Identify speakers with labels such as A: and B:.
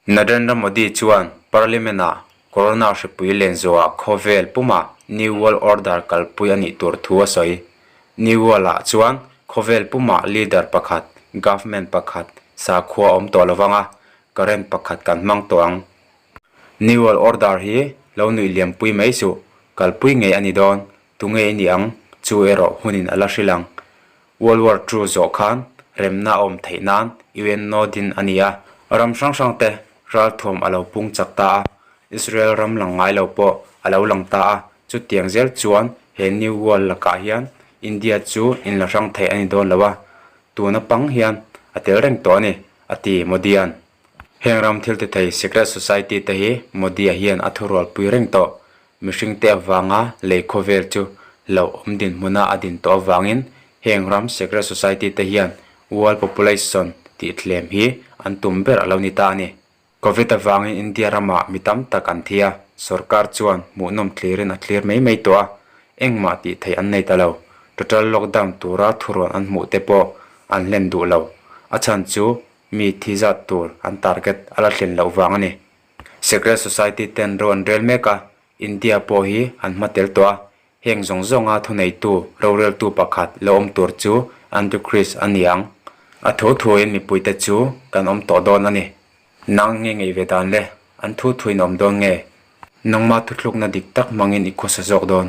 A: Narendra Modi chuan Parliament ah Corona hripui lenzuaha khawvel puma New World Order kalpui a nih tur thu a sawi. New World ah chuan khawvel puma leader pakhat, government pakhat, sakhuaawm tawh lo vanga current pakhat kan hmang tawh ang New World Order hi lo nuih liampui mai suh, kalpui ngei a ni dawn, tu ngei a ni ang, chu erawh hmunin a la hrilh ang. World War Two zawh khan remna a awm theih nan UN nod in a ni a, ram hrang hrang te ralthuam a lo pung chak ta a, Israel ram lang ngai lo pawh a lo lang ta a, chutiang zel chuan he New World lakah hian India chu in la hrang theih a ni dawn lo a, tun a pang hian a tel reng tawh a ni, a ti Modi-a'n. Heng ram thil ti thei secret society te hi Modi-a hian a thu rualpui reng tawh. Mihringte avanga lei khawvel chu lo awm dinhmuna a din tawh avangin heng ram secret society te hian world population tih thlem hi an tum ber a lo ni ta a ni. Covid avangin India rama mi tam tak an thi a, sorkar chuan hmuhnawm thlirin a thlir mai mai tawh a, engmah tih theih an nei ta lo. Total lockdown tura thuruan an hmuh te pawh an hlen duh lo. A chhan chu mi thi zat tur an target a la thlen loh vang a ni. Secret Society ten ro an rel mek a, India pawh hi an hma tel tawh a, heng zawng zawnga thuneitu roreltu pakhat lo awm tur chu Andrew Chris a ni ang. A thu thuin mipui te chu kan awm tawh dawn a ni. Nang nge ngei ve dan le, an thu thuin a awm dawn nge? Nangma thuthlukna dik tak hmangin i khawsa zawk dawn.